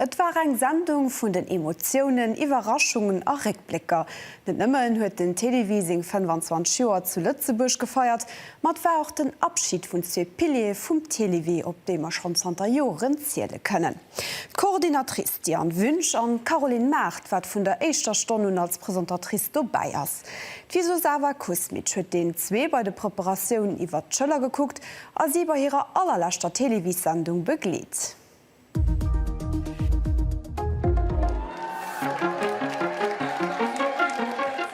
Et war eng Sendung vun den Emotiounen, Iwwerraschungen a Réckblécker. Net nëmmen huet den Télévie seng 25 Joer zu Lëtzebuerg gefeiert, ma et war och den Abschid vun zwee Piliere vum Télévie, op déi mer schonn zanter Joren ziele kënnen. D'Coordinatrice Diane Wünsch an d'Caroline Mart, wat vun der éischter Stonn un als Presentatrice dobäi ass. D'Wisuzava Kusmic huet deenen zwee bei de Preparatiounen iwwert d'Schëller gekuckt a si bei hirer allerleschter Télévies-Sendung begleet.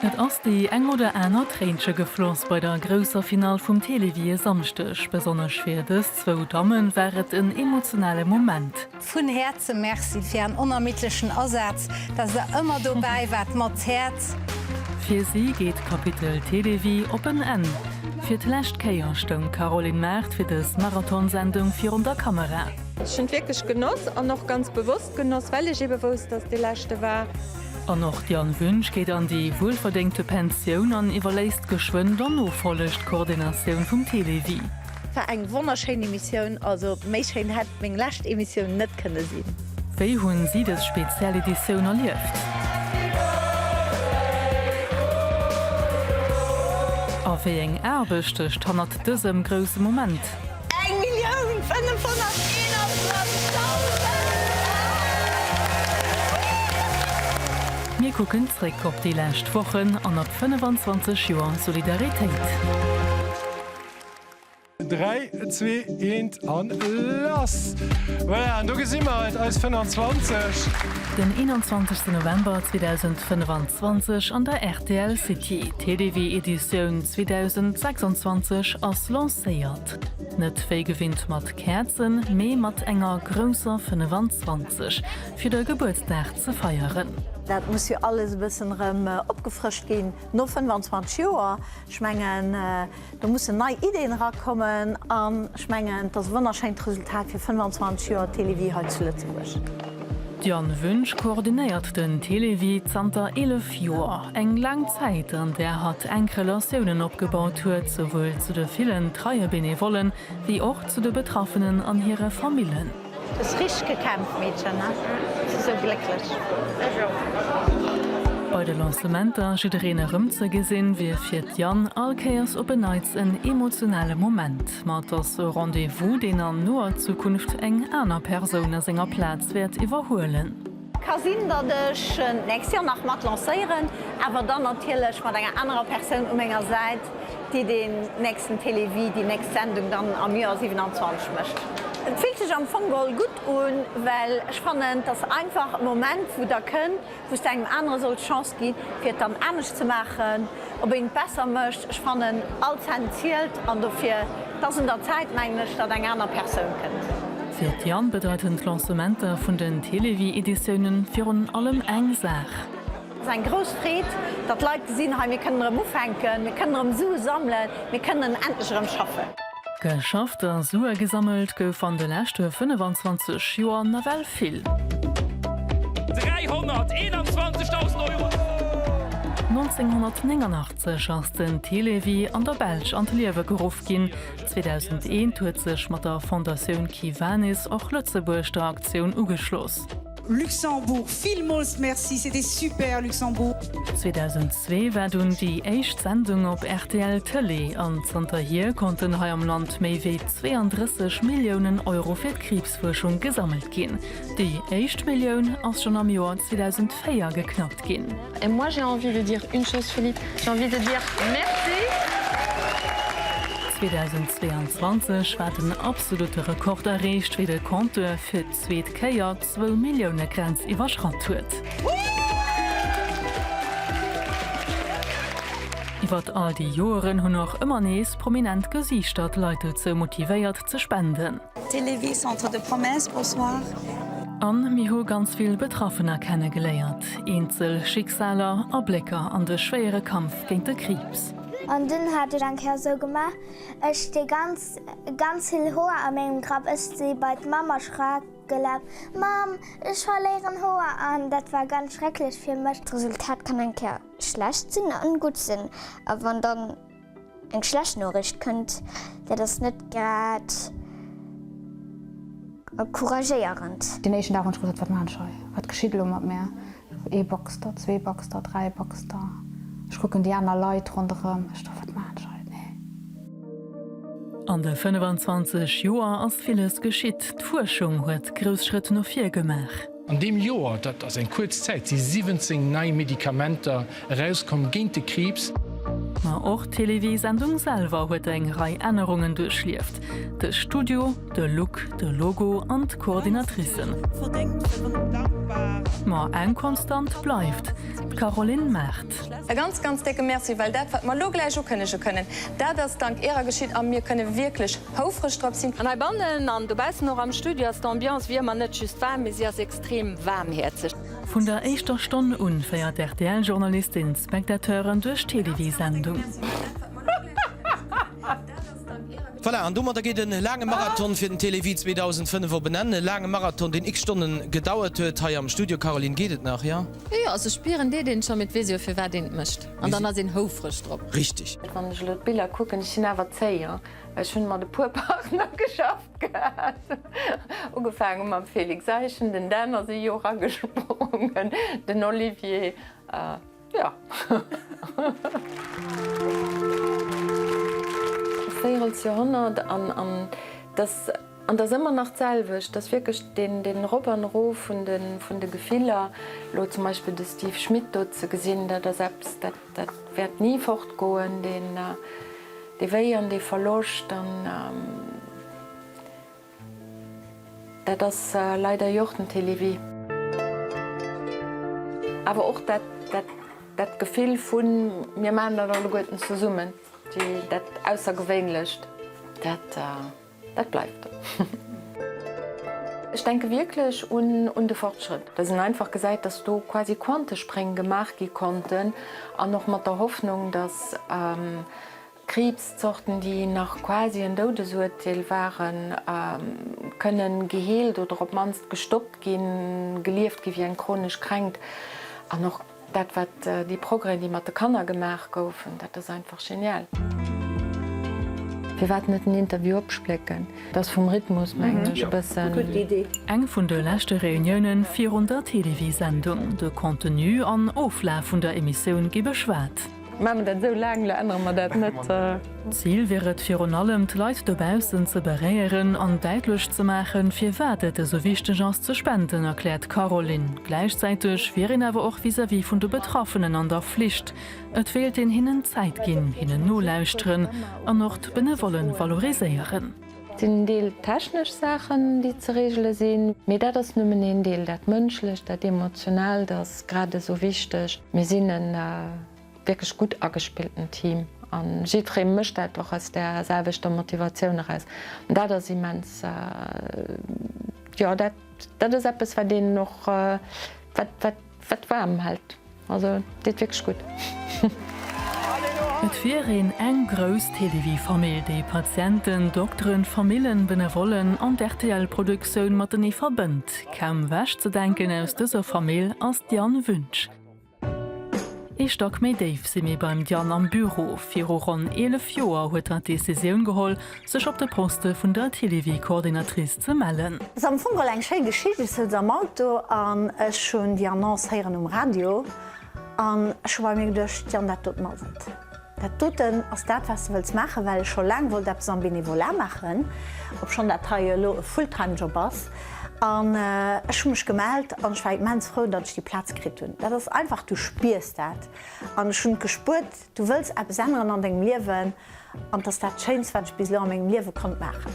Et ass déi eng oder aner Tréinche gefloss bei der grousser Finall vum Télévie e Samschdeg. Besonnesch fir dës zwou Damme war et en emotionale Moment. Vun Häerze Merci fir ären onermiddlechen Asaz, dass der ëmmer dobäi waart mat Häerz. Fir si geet d'Kapitel Télévie op en Enn. Fir d'lescht Kéier stoung d'Caroline Mart fir dës Marathonsendung virun der Kamera. Ech hunn et wierklech genoss an och ganz bewosst genoss, well ech ebe wousst, dass et dee leschte war. An och d'Yann Wünsch geet an déi wuelverdéngte Pensioun an iwwerléisst geschwënn der Nofolleg d'Koordinatioun vum Télévie. War eng wonnerschéin Emissioun, also méi schéin hätt meng lescht Emissioun net kënne sinn. Wéi hunn si dës speziell Editioun erlieft? A wéi eng Aarbecht stëcht hannert dësem grousse Moment? Euro! Mir kucken zréck op déi lescht Wochen an op 25 Joer Solidaritéit. Dräi, zwee, eent an lass! Voilà, an do gesi mer et, eis 25. Den 21 November 2025 an der rtl City. TDW Editioun 2026 ass lancéiert, net wéi gewinnt mat Käerzen, mee mat enger grousser 25 fir de Gebuertsdag ze feieren. Dat muss jo alles e bëssen erëm opgefrëscht ginn no 25 Joer. Ech mengen. Do mussen nei Ideen erakommen an ech mengen, et ass e wonnerschéint Resultat fir 25 Joer Télévie hei zu Lëtzebuerg. D'Diane Wünsch koordinéiert den Télévie zanter 11 Joer. Eng laang Zäit, an där hatt enk Relatiounen opgebaut huet, souwuel zu de villen treie Benevollen, wéi och zu de Betraffenen an hire Famillen. Hues richteg gekämpft Meedchen, ne? Ech si sou glécklech. Ech och. Bei de Lancementer jiddereen erëm ze gesinn, wier fir d'Yann all Kéiers op en Neits en emotionale Moment. Ma et ass e Rendez-vous, deen an noer Zukunft eng aner Persoun a senger Plaz wäert iwwerhuelen. Ka sinn, datt ech d'nächst Joer nach mat lancéieren, awer dann natierlech mat enger anerer Persoun u menger Säit, déi deen nächsten Télévie, déi nächst Sendung dann am Joer 27 mécht. Et fillt sech am Fong geholl gutt un, well ech fannen, et ass einfach e Moment, wou da kënnt, wou s de engem anere solls d'Chance ginn, fir et dann anescht ze maachen. op een et besser mécht. Ech fannen all Cent zielt an dofir et ass un der Zäit mengen ech datt eng aner Persoun kënnt. Fir d'Diane bedeiten d'Lancementer vun den Télévie-Editiounen virun allem eng Saach. Et ass eng grouss Freed, datt Leit gesinn, hei mir kënnen erëm ufänken, mir kënnen erëm Sue sammelen, mir kënnen endlech erëm schaffen. Geschafft a Sue gesammelt gouf an de leschte 25 Joer nawell vill. 321.000 Euro! 1989 ass den Télévie an der Belsch an d'Liewe geruff ginn. 2001 huet sech mat der Fondatioun Kiwanis och Lëtzebuerg der Aktioun ugeschloss. Luxembourg, villmols merci, c'était super Luxembourg. 2002 war dunn déi éischt Sendung op rtl Tëlee an zanterhier konnten hei am Land méi wéi 32 Milliounen Euro fir d'Kriibsfuerschung gesammelt ginn. Déi éischt Millioun ass schonn am Joer 2004 geknackt ginn. Et moi j'ai envie de dire une chose Philippe, j'ai envie de dire merci. 2022 war den absolute Rekord erreecht wéi de Compteur fir zweet Kéier zwou Millioune Grenz iwwerschratt huet. Iwwert all déi Joeren hunn och ëmmer nees prominent Gesiichter d'Leit dozou motivéiert ze spenden. Télévie Centre de Promesse, Bonsoir. An mir hu ganz vill Betraffener kenne geléiert, eenzel Schicksaler, Ablécker an de schwéiere Kampf géint de Kriibs. An dunn hat ech eng Kéier esou gemaach, ech dee ganzen. Ganz vill Hoer a mengem Grapp, ech si bei d'Mamm erschrak gelaf, Mamm, ech verléieren Hoer! An dat war ganz schrecklech fir mech. D'Resultat kann eng Kéier schlecht sinn an gutt sinn, a wann dann eng schlecht Noriicht kënnt, dat ass net grad encouragéierend. Deen éischten Dag hunn ech gesot, Wat maachen ech hei? Wat geschitt elo mat mär? Ee Baxter, zwee Baxter, dräi Baxter. Ech kucken déi aner Leit ronderëm. Ech do, Wat maachen ech hei? Nee. An de 25 Joer ass villes geschitt. D'Fuerschung huet grouss Schrëtt no vir gemaach. An deem Joer, dat ass eng kuerz Zäit, si 17 nei Medikamenter Erauskomm géint de Kriibs. Ma och d'Televiesendung selwer huet eng Rei Ännerungen duerchlieft, de Studio, de Look, de Logo an d'Coordinatricen. Ma eng Konstant bleift, d'Caroline Mart. E ganz, ganz décke Merci, well dat, wat mer elo gläich ukënnege kënnen, dat ass dank Ärer geschitt a mir kënne wierklech houfreg drop sinn. An heibannen an dobaussen, och am Studio, ass d'Ambiance wéi ëmmer net just waarm, mee si ass extrem waarmhäerzeg. Vun der éischter Stonn un féiert d'RTL-Journalistin d'Spectateuren duerch d'Télévie-Sendung. Voilà, an domadder geet e laange Marathon fir den Télévie 2005 op en Enn. E laange Marathon, deen x-Stonnen gedauert huet hei am Studio. Caroline, geet et nach, ja? Jo, jo, also ech spieren, deet een scho, mee et weess jo, firwat een et mécht. An dann ass een houfreg drop. Richteg. Wann ech elo d'Biller kucken, ech sinn awer zéi, jo, well ech hunn mat e puer Partner geschafft gehat. Ugefaange mam Felix Eischen, den Dan ass ee Jor ragesprungen, den Olivier jo. Véierels Jorhonnert an dass an dass ëmmer nach d'selwecht, dass wierklech den Rop an Ro vun de Gefiller, elo zum Beispill de Steve Schmit do ze gesinn, dat ass eppes, dat wäert ni fortgoen, dee Wéi an dee Verloscht. Dat ass leider jo och den Télévie. Awer och dat Gefill vu mir maachen dat alleguerten zesummen, dat Aussergewéinlecht, dat bleift. Ech denke wierklech un de Fortschrëtt. Datt een einfach gesäit, datt do quasi Quantespréng gemaach gi konnten, an och mat der Hoffnung, datt Kriibszorten, déi nach quasi en Doudesuerteel waren, kënnen geheelt oder op d'mannst gestoppt ginn, gelieft gi wéi eng chronesch Kränkt. An och dat, wat déi Progrèsen, déi mat de Kanner gemaach goufen, dat ass einfach genial. Firwat net en Interview opsplécken? Dat ass vum Rhythmus, mengen ech, e bëssen. Eng vun de leschte Reunioune virun der Télévie-Sendung. De Contenu an Oflaf vun der Emissioun gi beschwat. Maache mer dat esou laang, elo ännere mer dat net. Zil wier et virun allem, d'Leit dobaussen ze beréieren an däitlech ze maachen, firwat et esou wichteg ass ze spenden, erkläert d'Caroline. Gläichzäiteg wier een awer och vis-à-vis vun de Betraffenen an der Flicht. Et wéilt een hinnen Zäit ginn, hinnen nolauschteren an och d'Benevole valoriséieren. Et sinn en Deel technesch Saachen, déi ze regele sinn. Mee dat ass nëmmen een Deel. Dat Mënschlecht, dat Emotionaalt ass grad esou wichteg. Mir sinn e wierklech gutt agespillten Team a jiddweree mécht dat och aus där selwechter Motivatioun eraus. An dat ass immens, jo, dat ass eppes, wat een och, wat, wat. Wat waarm hält, also deet wierklech gutt. Et wier een eng grouss Télévie-Famill, déi Patienten, Dokteren, Famillen, Benevollen an d'RTL-Produktioun matenee verbënnt. Kaum ewechzedenken aus dëser Famill ass d'Diane Wünsch. Ee Stack méi déif si mir beim Diane am Büro. Viru ronn 11 Joer huet hatt d'Decisioun geholl, Sech op de Poste vun der Télévie-Coordinatrice ze mellen. Ass am Fong all eng schéi Geschicht. Ech souz am Auto an ech hunn déi Annonce héieren um Radio an ech hu bei mir geduecht, Jan, dat doten ass et. Dat doten ass dat, wat s de wëlls maachen, well ech scho laang wollt eppes am Bénévolat maachen, obschonn dat hei jo elo e Full-Time-Job ass. An ech hu mech gemellt an ech war immens frou, datt ech déi Plaz kritt hunn. Dat ass einfach, du spiers dat an ech hunn et gespuert. Du wëlls eppes änneren an dengem Liewen an 't ass dat Schéinst, wat ech bis elo a mengem Liewe konnt maachen.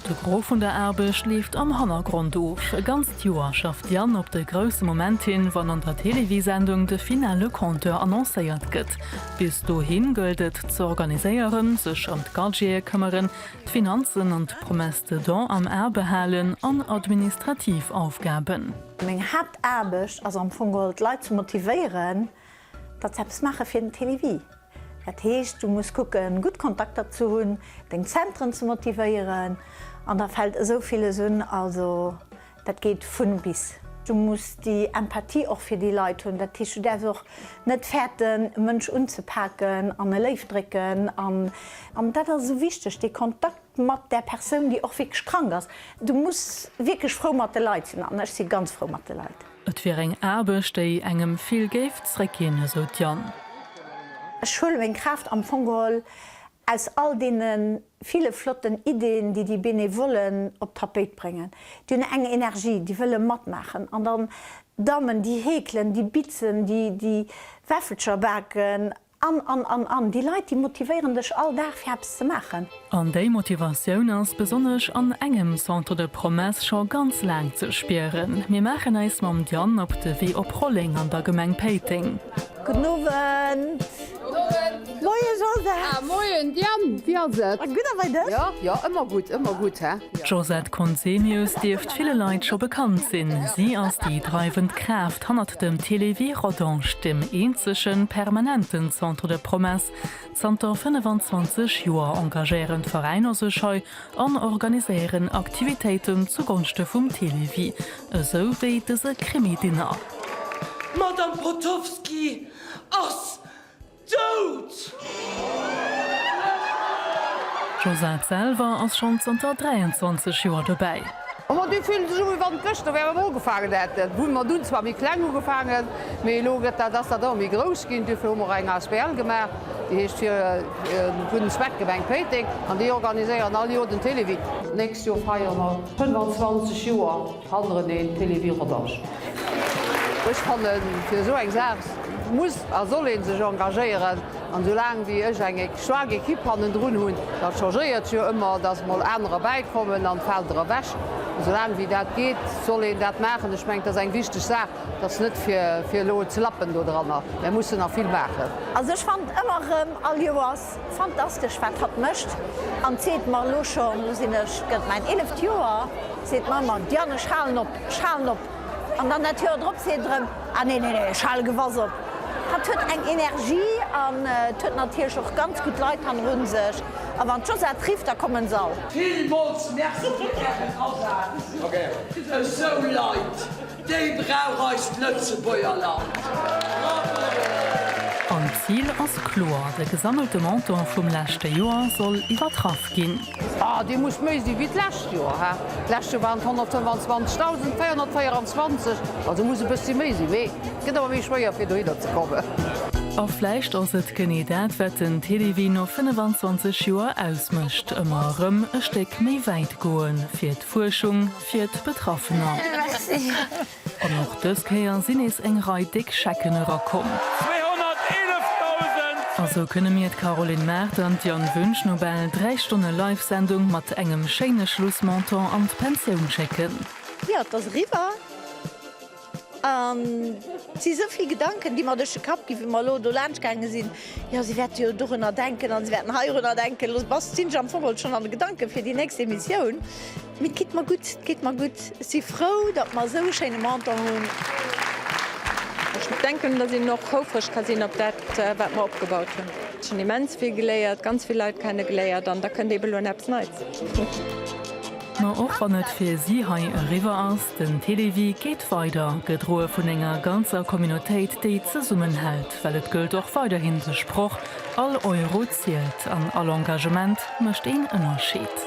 De Gros vun der Aarbecht leeft am Hannergrond of. E ganzt Joer schafft d'Diane op de grousse Moment hin, wann an der Télévie-Sendung de finale Compteur annoncéiert gëtt. Bis dohin gëllt et ze organiséieren, sech ëm d'Gadgete këmmeren, d'Finanzen an d'Promesse de dons am A behalen an administrativ Aufgaben. Meng Haaptaarbecht ass am Fong geholl d'Leit ze motivéieren, Dats eppes maache fir den Télévie. Dat heescht du muss kucken gutt Kontakter ze hunn, deng Zentren ze motivéieren an da fält esou villes un. Also dat geet vun bis. Du muss déi Empathie och fir déi Leit hunn. Dat heescht du däerfs och net fäerten e Mënsch unzepaken an e Léift drécken an dat ass esou wichteg dee Kontakt. mat där Persoun, déi och wierklech krank ass. Du muss wierklech frou mat de Leit sinn an ech si ganz frou mat de Leit. Et wier eng Aarbecht, déi engem vill géif zréckginn, esou d'Jeanne. Ech huele meng Kraaft am Fong geholl aus all deene ville flotten Iddien, déi déi Benevollen op d'Tapéit bréngen. Déi hunn eng Energie, déi wëlle matmaachen. An dann d'Dammen, déi heekelen, déi bitzen, déi Wäffelcher baken. An, an, an, an déi Leit, déi motivéieren dech all Dag fir eppes ze maachen. An déi Motivatioun ass besonnesch an engem Centre de Promesse scho ganz laang ze spieren. Mir maachen äis mam Diane op de Wee op Rolleng an der Gemeng Péiteng. Gudden Owend! Moien Joseph! Ah, moien Diane, wéi ass et? Gutt, a bei dech? Jo, jo, ëmmer gutt, ëmmer gutt, hä? D'Josette Conzemius dierft ville Leit scho bekannt sinn. Si ass déi dreiwend Kraaft hannert dem Télévie Rodange, dem eenzege permanenten Centre de Promesse. Zanter 25 Joer engagéieren d'Veräiner sech hei an organiséieren Aktivitéiten zugonschte vum Télévie, esou wéi dëse Krimidinner. D'Madame Potofski ass. Dout! D'Josette selwer ass schonn zanter 23 Joer dobäi. Majo, déi fillen sech u wéi wann et gëschter wär mer ugefaangen hätten. Hu mat un zwar méi kleng ugefaangen, mee elo gëtt dat, ass dat ëmmer méi grouss ginn. Duerfir hu mer och eng asbl gemaach, déi heescht Fir en gudden Zweck Gemeng Péiteng an déi organiséieren all Joer den Télévie. D'nächst Joer feiere mer 25 Joer. Franz René, Télévie Rodange. Ech fanne fir esou eng Saach muss a soll ee sech engagéieren. An esoulaang wéi ech eng staark Ekipp hannendrun hunn, dat changéiert jo ëmmer, datt mol anerer bäikommen an fält erëm ewech, esoulaang wéi dat geet, soll een dat maachen. Ech mengen, et ass eng wichteg Saach, et ass net fir elo ze lappen do dranner, mä mussen nach vill maachen. Also ech fannen ëmmer erëm all Joers Fantastesch wat hatt mécht an seet mer elo schonn, elo sinn ech, gëtt mäin eeleft Joer, seet d'Mama, Diane ech halen op, ech halen op an dann dat Joer drop seet erëm, ah nee, nee, nee, ech hale gewass op. Hatt huet eng Energie an et huet natierlech och ganz gutt Leit hanneru sech a wann d'Josette rifft, da kommen s'all. Villmools Merci fir ären Asaz fir esou Leit. Déi brauch eist Lëtzebuerger Land! Bravo! An d'Zil ass kloer, de gesammelte Montant vum leschte Joer soll iwwertraff ginn. Ah, dee muss méi si wéi d'lescht Joer, hä? D'lescht Joer waren et 125.424, also muss e bëssi méi sinn. Mee gëtt awer méi schwéier, fir dohinner ze kommen. A vläicht ass et genee dat, wat den Télévie no 25 Joer ausmécht, ëmmer erëm e Stéck méi wäit goen, fir Fuerschung fir d'Betraffener. An och dës Kéier sinn nees eng Rei déck Schecken erakomm. A sou kënne mir, d'Caroline Mart an d'Diane Wünsch, no bal dräi Stonne Live-Sendung mat engem schéine Schlussmontant an d'Pensioun schécken. Jo, et ass eriwwer. An et si sou vill Gedanken, déi mer duerch de Kapp ginn, wéi mer elo do laanscht gaange sinn. Jo, si wäerte jo dorunner denken an si wäerten heirunner denken. Elo bass, sinn ech am Fong alt schonn an de Gedanken fir déi nächst Emissioun. Mee et geet mer gutt, et geet mer gutt. Ech si frou, datt mer esou e schéine Montant hunn. Ech denken, datt een och houfreg ka sinn op dat, wat mer opgebaut hunn. Ech hunn immens vill geléiert, ganz vill Leit kenne geléiert an da kënnt eeben elo an eppes Neits. Ma och wann et fir si hei eriwwer ass, Den Télévie geet weider, gedroe vun enger ganzer Communautéit, déi zesummenhält, well et gëllt och weiderhin de Sproch, All Euro zielt an all Engagement mécht een Ënnerscheed.